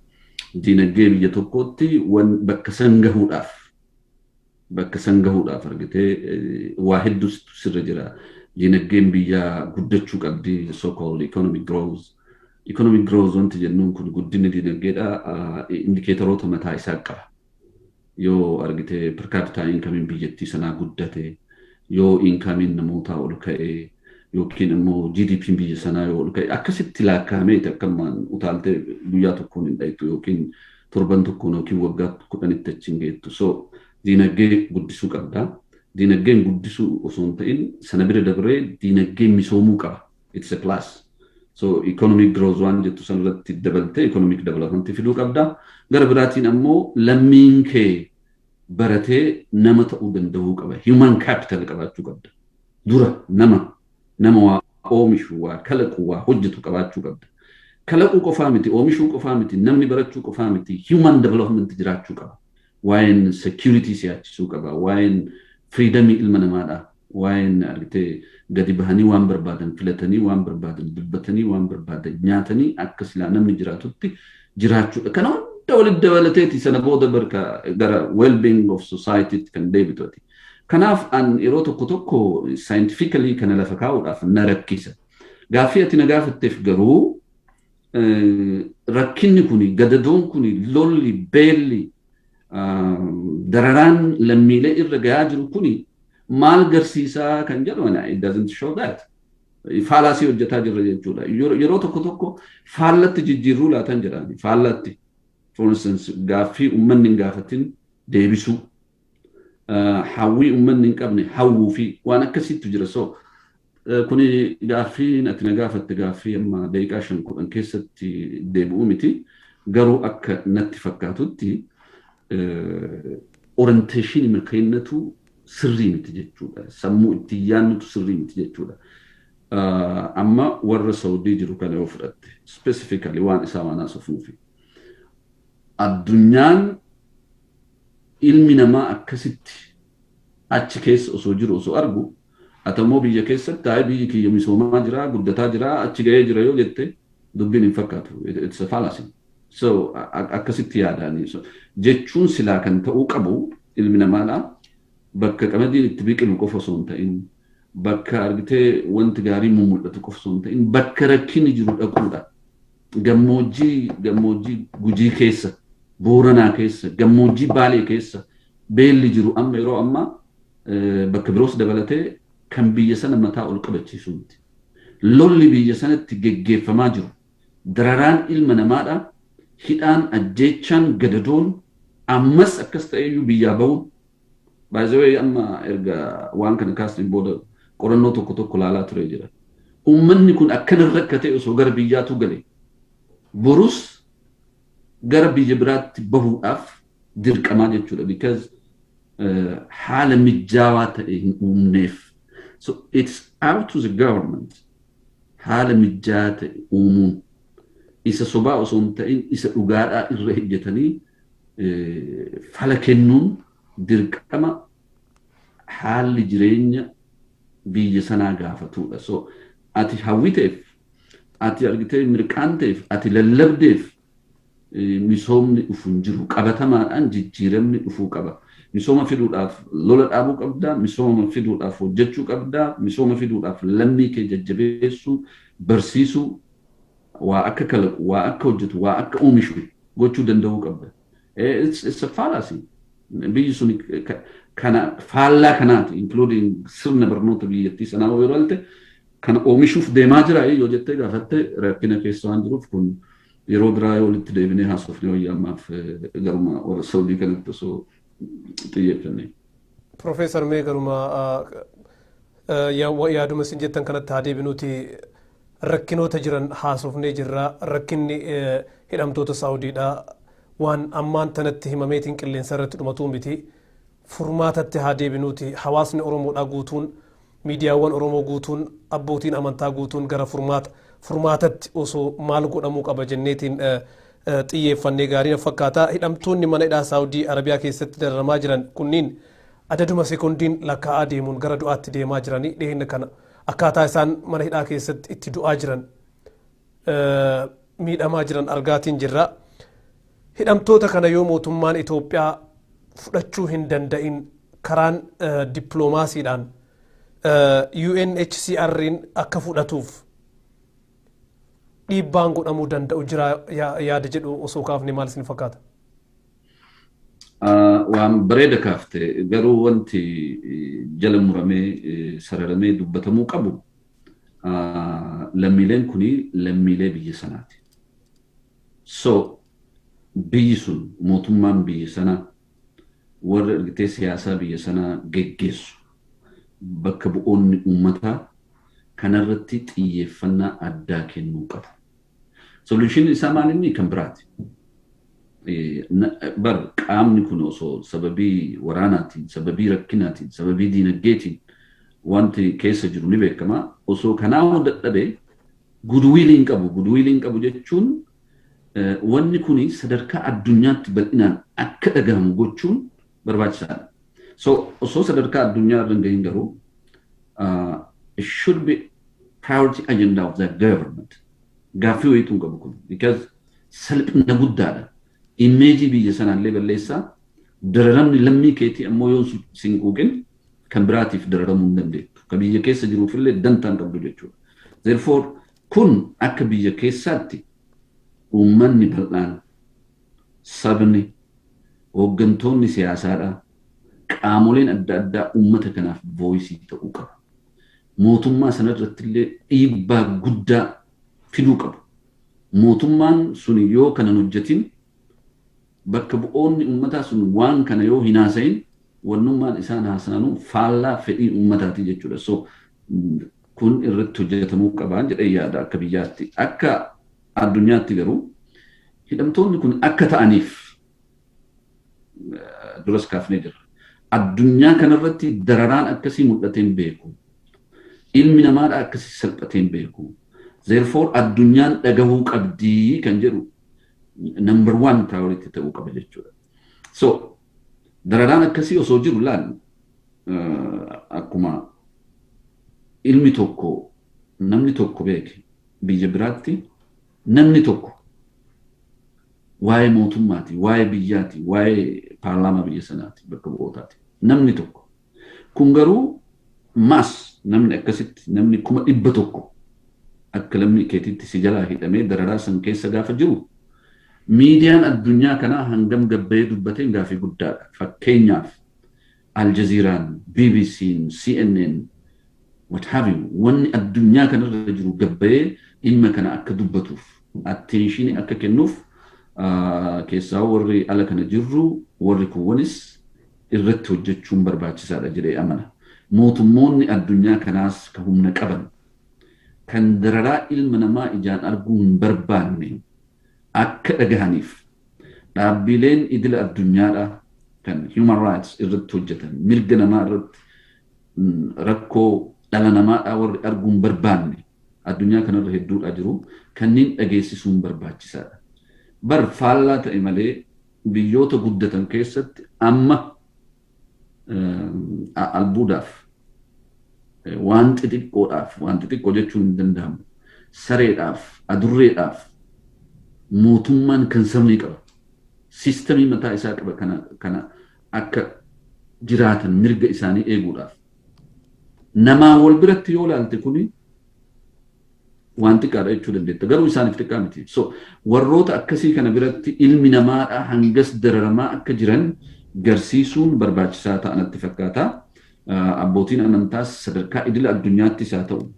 Speaker 2: diinagdee biyya tokkootti bakka san gahuudhaaf Bakka san gahuudhaaf argitee waa hedduu sirra jira. Diinagdeen biyyaa guddachuu qabdi so called economic growth. Economic growth wanti jennuun kun guddinni diinagdeedha indikeetaroota mataa isaa qaba. Yoo argitee per capita income biyyattii sanaa guddate, yoo inkaamiin namootaa ol ka'e, yookiin immoo GDPn biyya sanaa yoo ol ka'e akkasitti laakkaa'amee takkammaan utaaltee guyyaa tokkoon hin dhayxu yookiin torban tokkoon yookiin waggaa kudhanitti achi hin geettu. So diinagdee guddisuu qabda. Diinagdeen guddisuu osoo hin ta'in sana bira dabree diinagdeen misoomuu qaba. It's a plus. So economic growth waan jettu san irratti dabaltee economic development fiduu qabda. Gara biraatiin ammoo lammiin kee baratee nama ta'uu danda'uu qaba. Human capital qabaachuu qabda. Dura nama Nama waa oomishu, waa kalaqu, waa hojjetu qabaachuu qabda. Kalaquu qofaa miti, oomishuu qofaa miti, namni barachuu qofaa miti, human development jiraachuu qaba. Waa'een security si yaachisuu qaba. Waa'een freedom ilma namaadha. Waa'een argitee gadi bahanii waan barbaadan filatanii, waan barbaadan dubbatanii, waan barbaadan nyaatanii akka silaa namni jiraatutti jiraachuudha. Kana hunda walitti dabalateeti sana booda barka gara well-being of society tti kan deebitu ati. Kanaaf an yeroo tokko tokko scientifically kana lafa kaa'uudhaaf na rakkisa. Gaaffii ati na gaafatteef garuu rakkinni kun gadadoon kun lolli beelli dararaan lammiilee irra gahaa jiru kun maal garsiisaa kan jedhu ana it doesn't show that. Faalaasii hojjetaa jirra jechuudha. Yeroo tokko tokko faallatti jijjiirruu laatan jedhani faallatti. For instance gaaffii uummanni hin gaafatin deebisuu. hawwii ummanni hin qabne hawwuu fi waan akkasiitu jira so kuni gaaffiin ati na gaafatte gaaffii amma daqiiqaa shan kudhan keessatti deebi'u miti garuu akka natti fakkaatutti orienteeshinii milkaa'inatu sirrii miti jechuudha sammuu ittiin yaannutu sirrii miti jechuudha amma warra saudii jiru kana yoo fudhatte specifically waan isaa waan haasofnuufi addunyaan Ilmi namaa akkasitti achi keessa osoo jiru osoo argu, ati ammoo biyya keessatti ayi biyyi kiyya misoomaa jira, guddataa jira, achi gahee jira yoo jette dubbiin hin fakkaatu. It's a fallacy. So akkasitti yaadaani. So, jechuun silaa kan ta'uu qabu ilmi namaadha. Bakka qamadiin itti biqilu qofa osoo hin ta'in, bakka argitee wanti gaarii mummul'atu qofa osoo hin ta'in, bakka rakkinni jiru dhaquudha. Gammoojjii Gammoojjii Gujii keessa, Booranaa keessa, Gammoojjii Baalee keessa beelli jiru amma yeroo ammaa bakka biroos dabalatee kan biyya sana mataa ol qabachiisu miti. Lolli biyya sanatti geggeeffamaa jiru dararaan ilma namaadha, hidhaan, ajjeechaan, gadadoon ammas akkas ta'eyyuu biyyaa ba'uun By the way amma erga waan kana kaasteen booda qorannoo tokko tokko laalaa ture jira. Uummanni kun akkana rakkatee osoo gara biyyaatu gale borus gara biyya biraatti bahuudhaaf dirqamaa jechuudha because eh, haala mijaawaa ta'e hin uumneef. So it's out to the government haala mijaawaa ta'e uumuun isa sobaa osoo hin ta'in isa dhugaadhaa irra hojjetanii fala kennuun dirqama haalli jireenya biyya sanaa gaafatudha. So ati hawwiteef, ati argitee mirqaanteef, ati lallabdeef misoomni dhufu hin jiru. Qabatamaadhaan jijjiiramni dhufuu qaba. Misooma fiduudhaaf lola dhaabuu qabda, misooma fiduudhaaf hojjechuu qabda, misooma fiduudhaaf lammii kee jajjabeessuu, barsiisuu, Waa akka kalaqu, waa akka hojjetu, waa akka oomishu gochuu danda'uu qabda. It's, it's a fallacy. Biyyi suni ka- kana faallaa kanaati, including sirna barnoota biyyattii sanaa yoo ilaalte, kana oomishuuf deemaa jira yoo jettee gaafatte rakkina keessa waan jiruuf kun yeroo biraa yoo walitti deebinee haasofne wayya ammaaf eh, garuma warra Saudii kanatti osoo xiyyeeffannee. Profeesar
Speaker 1: mee garuma yaaduma isin jettan kanatti haa deebinuuti rakkinoota jiran haasofnee jirra rakkinni hidhamtoota saawudiidha waan ammaan tanatti himameetiin qilleensa irratti dhumatuu miti furmaatatti haa deebinuuti hawaasni oromoodhaa guutuun Miidiyaawwan Oromoo guutuun, abbootiin amantaa guutuun gara furmaata, furmaatatti osoo maal godhamuu qaba jenneetiin xiyyeeffannee gaarii na fakkaata. Hidhamtoonni mana hidhaa Saawudii Arabiyaa keessatti dararamaa jiran kunniin adaduma sekondiin lakkaa'aa deemuun gara du'aatti deemaa jiranii dhiheenya kana akkaataa isaan mana hidhaa keessatti itti du'aa jiran miidhamaa jiran argaatiin jirra. Hidhamtoota kana yoo mootummaan Itoophiyaa fudhachuu hin danda'in karaan dippiloomaasiidhaan UNHCR'n akka fudhatuuf dhiibbaan godhamuu danda'u jira yaada jedhu osoo kaafne maal isin fakkaata?
Speaker 2: Waan bareeda kaafte garuu wanti jala muramee sararamee dubbatamuu qabu lammiileen kun lammiilee biyya sanaati. So biyyi sun mootummaan biyya sanaa warri argitee siyaasaa biyya sanaa geggeessu bakka bu'oonni uummataa kanarratti xiyyeeffannaa addaa kennuu qabu. Solution isaa maal inni kan biraati. Bar qaamni kun osoo sababii waraanaatiin, sababii rakkinaatiin, sababii diinagdeetiin wanti keessa jiru ni beekama. Osoo kanaa hoo dadhabe gudwiilii hin qabu. Gudwiilii hin qabu jechuun wanni kun sadarkaa addunyaatti bal'inaan akka dhagahamu gochuun barbaachisaa dha. So osoo sadarkaa addunyaa irra hin gahin garuu it should be priority agenda of the government. Gaaffii wayiitu hin qabu kun. Because salphina guddaadha. Immeejii biyya sanaallee balleessaa dararamni lammii keetii ammoo yoo sin quuqin kan biraatiif dararamuu hin dandeettu. Ka biyya keessa jiruufillee dantaa hin qabdu jechuudha. Therefore kun akka biyya keessaatti uummanni bal'aan sabni, hooggantoonni siyaasaadhaa, qaamoleen adda addaa uummata kanaaf voice ta'uu qabu. Mootummaa sana irratti illee dhiibbaa guddaa fiduu qabu. Mootummaan sun yoo kana hin hojjetin bakka bu'oonni uummataa sun waan kana yoo hin haasa'in wannummaan isaan haasaanuu faallaa fedhii uummataati jechuudha. So kun irratti hojjetamuu qabaan jedhee yaada akka biyyaatti. Akka Addunyaatti garuu hidhamtoonni kun akka ta'aniif duras kaafnee jirra. Addunyaa kanarratti dararaan akkasii mul'atee hin beeku. Ilmi namaadhaa akkasii salphatee hin beeku. Therefore addunyaan dhagahuu qabdii kan jedhu number one priority ta'uu qaba jechuudha. So dararaan akkasii osoo jiru laal akkuma ilmi tokko namni tokko beeke Biyya biraatti namni tokko waa'ee mootummaati, waa'ee biyyaati, waa'ee paarlaamaa biyya sanaati, bakka bu'ootaati. Namni tokko. Kun garuu maas namni akkasitti namni kuma dhibba tokko akka lammii keetiitti si jalaa hidhamee dararaa san keessa gaafa jiru miidiyaan addunyaa kanaa hangam gabbayee dubbateen gaafii guddaadha. Fakkeenyaaf Al Jazeeraan, BBCn, CNN, what have you, wanni addunyaa kana irra jiru gad bahee dhimma kana akka dubbatuuf, attention akka kennuuf keessaa warri ala kana jirru warri kuwwanis irratti hojjechuun barbaachisaadha jedhee amana. Mootummoonni addunyaa kanaas ka humna qaban, kan dararaa ilma namaa ijaan arguu hin barbaanne, akka dhagahaniif dhaabbiileen idila addunyaadhaa kan human rights irratti hojjetan mirga namaa irratti rakkoo dhala namaadhaa warri arguu hin barbaanne addunyaa kanarra hedduudhaa jiru kanneen dhageessisuun barbaachisaadha. Bar faallaa ta'e malee biyyoota guddatan keessatti amma albuudaaf waan xixiqqoodhaaf waan xixiqqoo jechuun hin danda'amu sareedhaaf adurreedhaaf mootummaan kan sabni qaba siistemii mataa isaa qaba kana kana akka jiraatan mirga isaanii eeguudhaaf namaa wal biratti yoo laalte kuni waan xiqqaadha jechuu dandeetta. Garuu isaaniif xiqqaa miti. So warroota akkasii kana biratti ilmi namaadha hangas dararamaa akka jiran garsiisuun barbaachisaa ta'a natti fakkaata. Abbootiin amantaas sadarkaa idila addunyaattis haa ta'u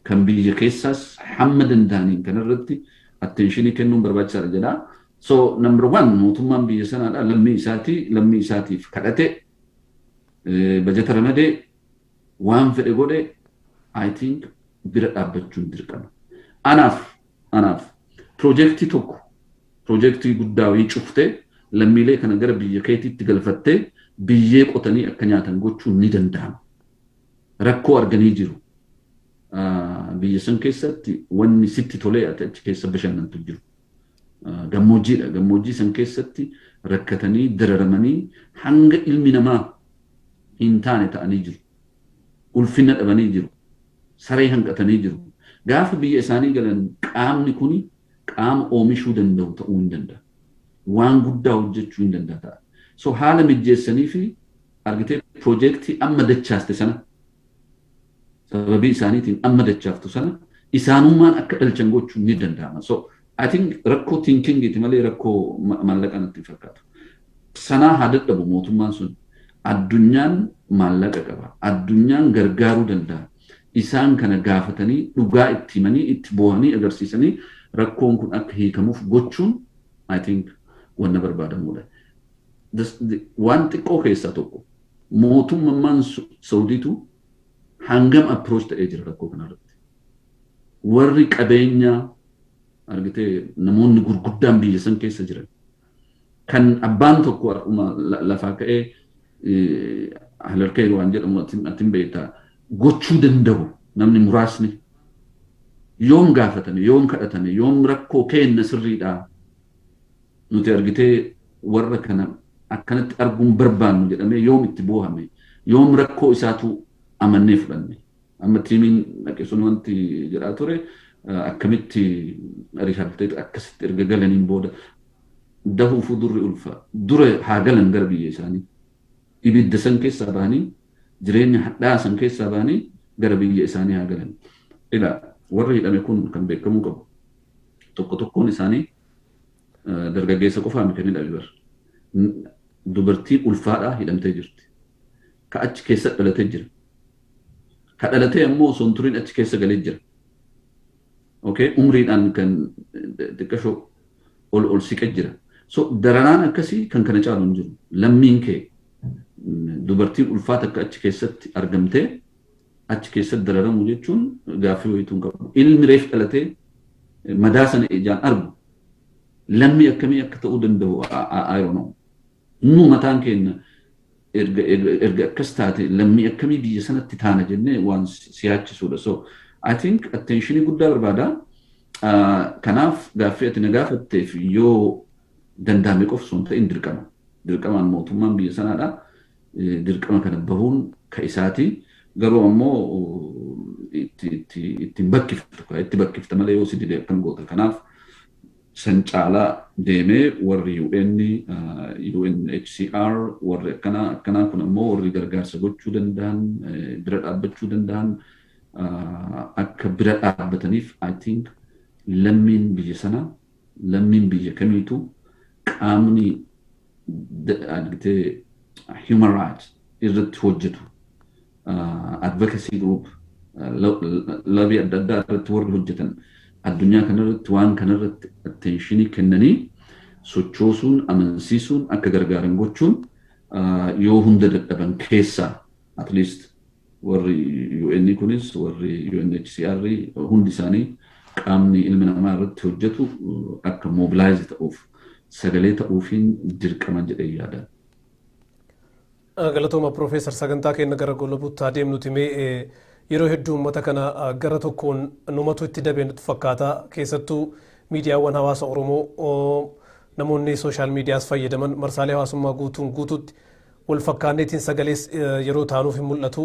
Speaker 2: kan biyya keessaas hamma danda'aniin kanarratti atteenshinii kennuun barbaachisaadha jedha. So number one mootummaan biyya sanaadha lammii isaatii lammii isaatiif kadhate bajata ramadee Waan fedhe godhe I think bira dhaabbachuun dirqama. Anaaf anaaf pirojektii tokko pirojektii guddaa wayii cuftee lammiilee kana gara biyya keetiitti galfattee biyyee qotanii akka nyaatan gochuun ni danda'ama. Rakkoo arganii jiru. Biyya san keessatti wanni sitti tolee ati achi keessa bashannantu jiru. Gammoojjiidha. Gammoojjii san keessatti rakkatanii dararamanii hanga ilmi namaa hin taane ta'anii jiru. Ulfinna dhabanii jiru. Saree hanqatanii jiru. Gaafa biyya isaanii galan qaamni kuni qaama oomishuu danda'u ta'uu hin danda'a. Waan guddaa hojjechuu hin danda'a ta'a. So haala mijjeessaniifi argitee piroojeektii amma dachaaste sana sababii isaaniitiin amma dachaaftu sana isaanummaan akka dhalchan gochuun ni danda'ama. So I think rakkoo tinkingiiti malee rakkoo maallaqa natti hin fakkaatu. Sanaa haa dadhabu mootummaan sun addunyaan maallaqa qaba. Addunyaan gargaaruu danda'a. Isaan kana gaafatanii dhugaa itti himanii itti boohanii agarsiisanii rakkoon kun akka hiikamuuf gochuun I think wanna barbaadamudha. Waan xiqqoo keessaa tokko. Mootummammaan Sawudiitu hangam approach ta'ee jira rakkoo kana irratti? Warri qabeenya argitee namoonni gurguddaan biyya san keessa jiran kan abbaan tokko har'uma lafaa ka'ee halarkee waan jedhamu atin beektaa gochuu danda'u namni muraasni yoom gaafatame yoom kadhatame yoom rakkoo keenna sirriidhaa Nuti argitee warra kana akkanatti arguu hin barbaannu jedhamee yoom itti boohame? Yoom rakkoo isaatu amannee fudhanne? Amma tiimiin dhaqe sun wanti jedhaa ture akkamitti rehabilitate akkasitti erga galaniin booda dahuufuu durri ulfa. Dura haa galan gara biyya isaanii. Ibidda san keessaa bahanii jireenya hadhaa san keessaa bahanii gara biyya isaanii haa galan. Egaa warri hidhame kun kan beekamuu qabu tokko tokkoon isaanii dargaggeessa qofaa miti ni dhabe bar. Dubartii ulfaadhaa hidhamtee jirti. Ka achi keessa dhalatee jira. Ka dhalatee ammoo osoo hin turin achi keessa galee jira. Okay? Umriidhaan kan xiqqashoo ol ol siqe jira. So dararaan akkasii kan kana caalu hin jiru. Lammiin kee dubartiin ulfaata akka achi keessatti argamtee achi keessatti dararamuu jechuun gaaffii wayiitu hin qabu. Ilmi reef dhalatee madaa sana ijaan argu lammii akkamii akka ta'uu danda'u I don't know. Nu mataan keenya erga erga erga akkas taate lammii akkamii biyya sanatti taana jennee waan si yaachisudha. So I think attentionii guddaa barbaada. Ah, Kanaaf gaaffii ati na gaafatteef yoo danda'ame qofa osoo hin ta'in dirqama. Dirqamaan mootummaan biyya sanaadha. dirqama kana bahuun ka isaati. Garuu ammoo itti itti itti hin bakkiftu ka itti bakkifta malee yoo si dide akkam goota kanaaf san caalaa deemee warri UN, UNHCR warri akkanaa akkanaa kun ammoo warri gargaarsa gochuu danda'an bira dhaabbachuu danda'an akka bira dhaabbataniif I think lammiin biyya sanaa Lammiin biyya kamiituu qaamni human rights irratti hojjetu advocacy group lobby adda addaa irratti warri hojjetan addunyaa kanarratti waan kanarratti attentionii kennanii sochoosuun amansiisuun akka gargaaran gochuun yoo hunda dadhaban keessaa at least Warri UN kunis warri UNHCR hundi isaanii qaamni ilmi namaa irratti hojjetu akka mobilaayizi ta'uuf sagalee ta'uufiin dirqaman jedhee yaada.
Speaker 1: Galatooma Piroofeesar sagantaa keenya gara goolabuutti haa deemnuti mee yeroo hedduu uummata kana gara tokkoon numatu itti dabee nutti fakkaata keessattuu miidiyaawwan hawaasa Oromoo namoonni sooshaal miidiyaas fayyadaman marsaalee hawaasummaa guutuun guutuutti Wal fakkaanneetiin sagalees yeroo taanuuf hin mul'atu.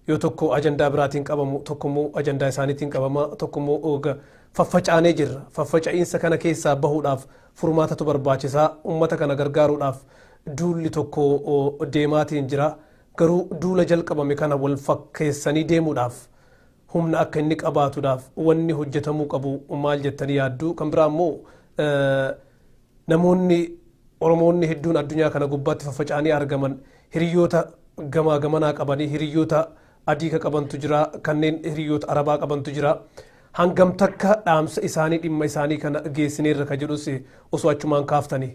Speaker 1: Yoo tokko ajandaa biraatiin qabamu, tokkommoo ajandaa isaaniitiin qabama, tokkommoo ooga. Faffacaanee jirra. Faffaca'iinsa kana keessaa bahuudhaaf furmaatatu barbaachisa. Ummata kana gargaaruudhaaf duulli tokko deemaatiin jira. Garuu duula jalqabame kana wal fakkeessanii deemuudhaaf, humna akka inni qabaatuudhaaf wanni hojjetamuu qabu maal jettanii yaaddu? Kan biraa immoo Namoonni Oromoonni hedduun addunyaa kana gubbaatti faffaca'anii argaman hiriyyoota gamaa gamanaa qabanii hiriyyoota adii ka qabantu jira kanneen hiriyyoota arabaa qabantu jira hangam takka dhaamsa isaanii dhimma isaanii kana geessineerra ka jedhus osoo achumaan kaaftanii.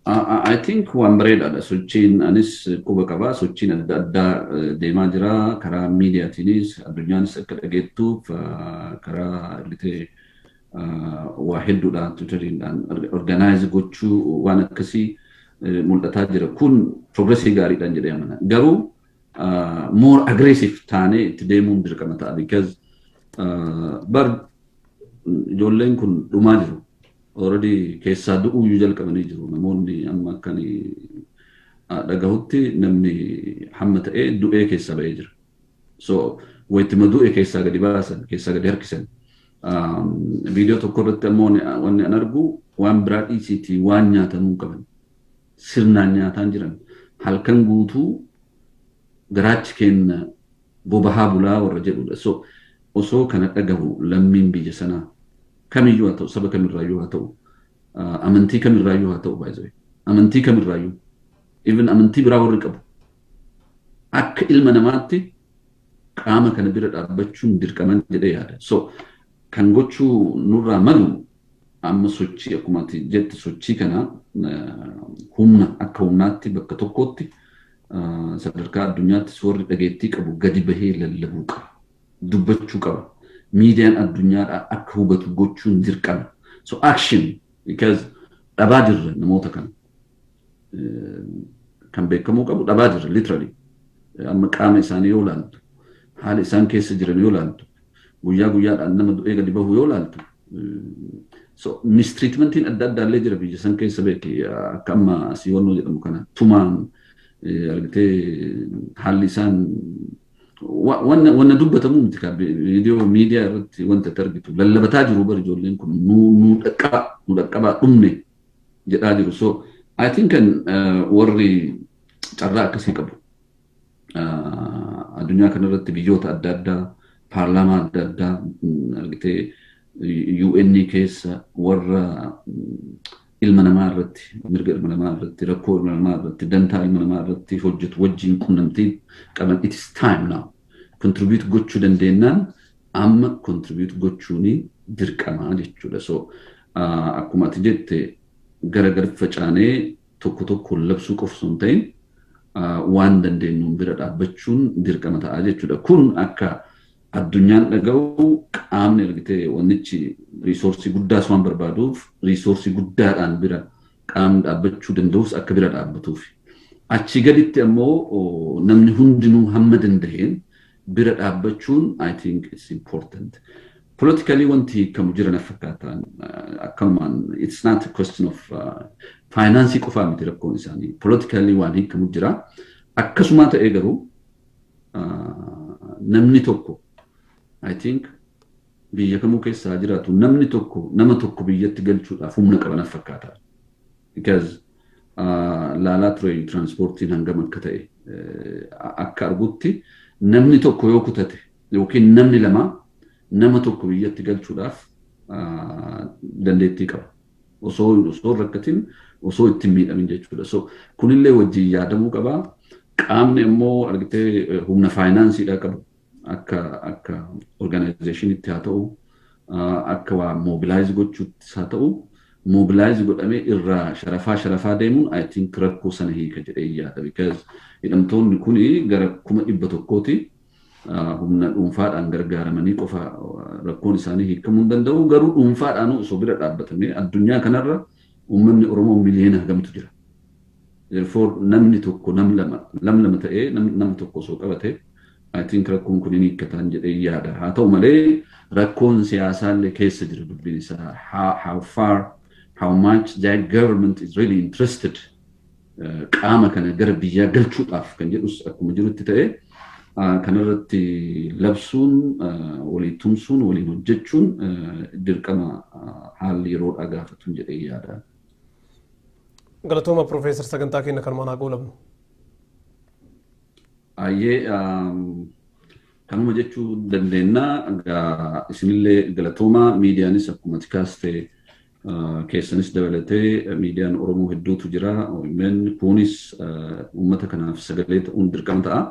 Speaker 2: I think waan bareedaadha sochiin anis quba qaba sochiin adda addaa deemaa jira karaa miidiyaatiinis addunyaanis akka dhageettuuf karaa argitee waa hedduudhaan tiwutariidhaan organaayizi gochuu waan akkasii mul'ataa jira kun progresii gaariidhaan jedhee amana garuu more aggressive taanee itti deemuun dirqama ta'a because bar ijoolleen kun dhumaa jiru Already keessaa du'uuyyuu jalqabanii jiru namoonni amma akkan dhagahutti namni hamma ta'e du'ee keessaa ba'ee jira. So wayittima du'e keessaa gadi baasan keessaa gadi harkisan. Viidiyoo tokko irratti ammoo wanni an argu waan biraa dhiisiitii waan nyaatamuu qaban sirnaan nyaataan jiran halkan guutuu garaachi keenna bobahaa bulaa warra jedhuudha. So osoo kana dhagahu lammiin biyya sanaa kamiyyuu haa ta'u saba kamirraayyuu haa ta'u amantii kamirraayyuu haa ta'u baay'ee amantii kamirraayyuu even amantii biraa warri qabu akka ilma namaatti qaama kana bira dhaabbachuun dirqaman jedhee yaada. So kan gochuu nurraa malu amma sochii akkuma ati jette sochii kana humna akka humnaatti bakka tokkootti sadarkaa addunyaatti soorri dhageettii qabu gadi bahee lallabuu qaba. Dubbachuu qaba. Miidiyaan addunyaadhaa akka hubatu gochuun dirqama. So action because dhabaa jirra namoota kana. Kan beekamuu qabu dhabaa jirra literally. Amma qaama isaanii yoo ilaaltu, haala isaan keessa jiran yoo ilaaltu, guyyaa guyyaadhaan nama du'ee gadi bahu yoo laaltu mistiriitmentiin adda addaa illee jira biyya san keessa beeki akka amma asii wannoo jedhamu kana tumaan argitee haalli isaan wanna dubbatamu miti kaa viidiyoo miidiyaa irratti wanta itti argitu lallabataa jiru bari ijoolleen kun nu dhaqqabaa nu dhaqqabaa dhumne jedhaa jiru so I think warri carraa akkasii qabu addunyaa kanarratti biyyoota adda addaa paarlaamaa adda addaa argitee UN keessa warra ilma namaa irratti mirga ilma namaa irratti rakkoo ilma namaa irratti dantaa ilma namaa irratti hojjetu wajjin qunnamtii qaban it is time now contribute gochuu dandeennaan amma contribute gochuun dirqamaa jechuudha so akkuma ati jette gara gad facaanee tokko tokkoon labsuu qofa osoo hin ta'in waan dandeenyuun bira dhaabbachuun dirqama ta'a jechuudha. Kun akka addunyaan dhaga'u qaamni argitee wannichi riisoorsii guddaas waan barbaaduuf riisoorsii guddaadhaan bira qaamni dhaabbachuu danda'us akka bira dhaabbatuuf. Achii gaditti ammoo namni hundinuu hamma danda'een bira dhaabbachuun I think it's important. Politically wanti hiikamu jira na fakkaata. Akkanumaan it's not a question of finance qofaa miti rakkoon isaanii. Politically waan hiikamu jira. Akkasumaa ta'ee garuu namni tokko I think biyya kamuu keessa haa jiraatu namni tokko nama tokko biyyatti galchuudhaaf humna qaba na fakkaata. Because laalaa ture tiraanspoortiin hangam akka ta'e akka argutti namni tokko yoo kutate yookiin namni lama nama tokko biyyatti galchuudhaaf dandeettii qaba. Osoo osoo rakkatiin osoo itti hin miidhamin jechuudha. So kunillee wajjin yaadamuu qaba. Qaamni immoo argitee humna faayinaansiidhaa qabu akka akka organization'itti haa ta'u akka waa mobilize gochuuttis haa ta'u mobilize godhamee irraa sharafaa sharafaa deemuun I think rakkoo sana hiika jedhee yaada because hidhamtoonni kun gara kuma dhibba tokkooti humna dhuunfaadhaan gargaaramanii qofa rakkoon isaanii hiikamuu hin danda'u garuu dhuunfaadhaan osoo bira dhaabbatamee addunyaa kanarra uummanni Oromoo miliyoona hagamtu jira Therefore namni tokko nam lama lam lama ta'ee nam nam tokko osoo qabate I think rakkoon kun hin hiikkataan jedhee yaada. Haa ta'u malee rakkoon siyaasaallee keessa jira dubbiin isaa. How, how far, how much that government is really interested eh, qaama kana gara biyyaa galchuudhaaf kan jedhus akkuma jirutti ta'e ah, kanarratti labsuun ah, walii tumsuun waliin hojjechuun eh, dirqama ah, haalli yeroodhaa gaafatuun jedhee yaada.
Speaker 1: Galatooma Profeesar sagantaa keenya kanumaan haa goolabnu.
Speaker 2: Ayyee kanuma jechuu dandeenya. Egaa isinillee galatooma miidiyaanis akkuma ati kaaste keessanis dabalatee miidiyaan Oromoo hedduutu jira. OMN kunis uummata kanaaf sagalee ta'uun dirqama ta'a.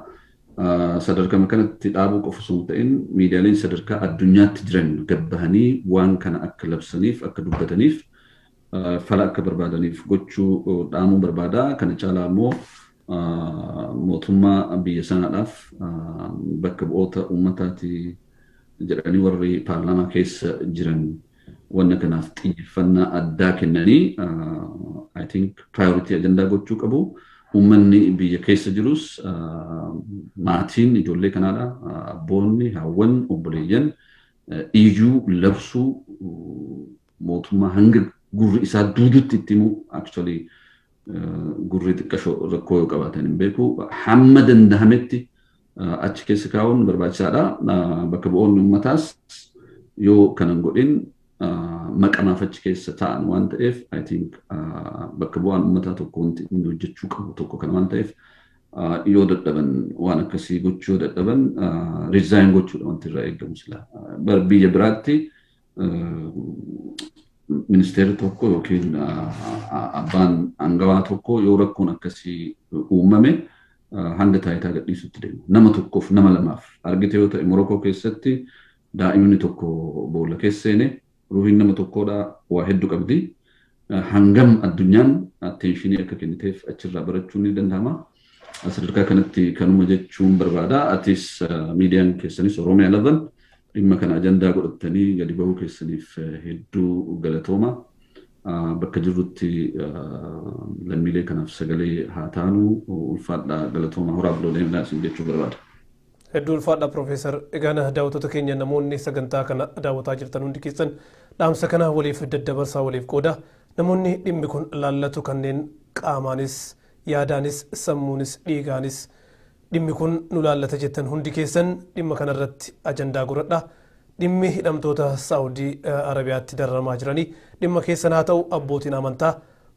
Speaker 2: Sadarkama kanatti dhaabuu qofa osoo hin ta'in miidiyaaleen sadarkaa addunyaatti jiran gad bahanii waan kana akka labsaniif akka dubbataniif fala akka barbaadaniif gochuu dhaamuu barbaada. Kana caalaa immoo mootummaa biyya sanaadhaaf bakka bu'oota uummataati jedhanii warri paarlaamaa keessa jiran wanna kanaaf xiyyeeffannaa addaa kennanii I think priority ajandaa gochuu qabu. Uummanni biyya keessa jirus maatiin ijoollee kanaadha. Abboonni, haawwan, obboleeyyan ijuu labsuu mootummaa hanga gurri isaa duudutti itti himu actually gurri xiqqasho rakkoo yoo qabaatan hin beeku hamma danda'ametti achi keessa kaa'uun barbaachisaadha. Bakka bu'oonni uummataas yoo kana hin godhin maqamaaf achi keessa taa'an waan ta'eef I think bakka bu'aan uummataa tokko wanti inni hojjechuu qabu tokko kana waan ta'eef yoo dadhaban waan akkasii gochuu yoo dadhaban resign gochuudha wanti irraa eegamu sila. Biyya biraatti ministeerri tokko yookiin abbaan aangawaa tokko yoo rakkoon akkasii uumame hanga taayitaa gadhiisutti deema. Nama tokkoof nama lamaaf argite yoo ta'e Morokoo keessatti daa'imni tokko boolla keessa seene ruuhiin nama tokkoodha waa hedduu qabdi. Hangam addunyaan atteenshinii akka kenniteef achirraa barachuun ni danda'ama. Sadarkaa kanatti kanuma jechuun barbaada. Atis miidiyaan keessanis Oromiyaa Lavan dhimma kana ajandaa godhattanii gadi bahuu keessaniif hedduu galatooma. Bakka jirrutti lammiilee kanaaf sagalee haa taanu ulfaadhaa galatooma horaa bulaa deemaa isin jechuu barbaada. Hedduu ulfaadhaa
Speaker 1: Professor. Egaan daawwattoota keenya namoonni sagantaa kana daawwataa jirtan hundi keessan dhaamsa kana waliif daddabarsaa waliif qoodaa. Namoonni dhimmi kun laallatu kanneen qaamaanis, yaadaanis, sammuunis, dhiigaanis dhimmi kun nu laallata jettan hundi keessan dhimma kanarratti ajandaa godhadhaa. Dhimmi hidhamtoota Saawudii Arabiyaatti dararamaa jiranii dhimma keessan haa ta'u abbootiin amantaa,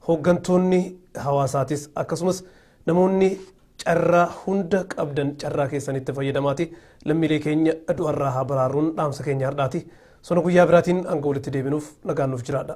Speaker 1: hooggantoonni hawaasaatis akkasumas Namoonni carraa hunda qabdan carraa keessanitti fayyadamaati lammiilee keenya du'arraa haa baraarruun dhaamsa keenya hardhaati. Sona guyyaa biraatiin hanga walitti deebinuuf nagaan nuuf jiraadha.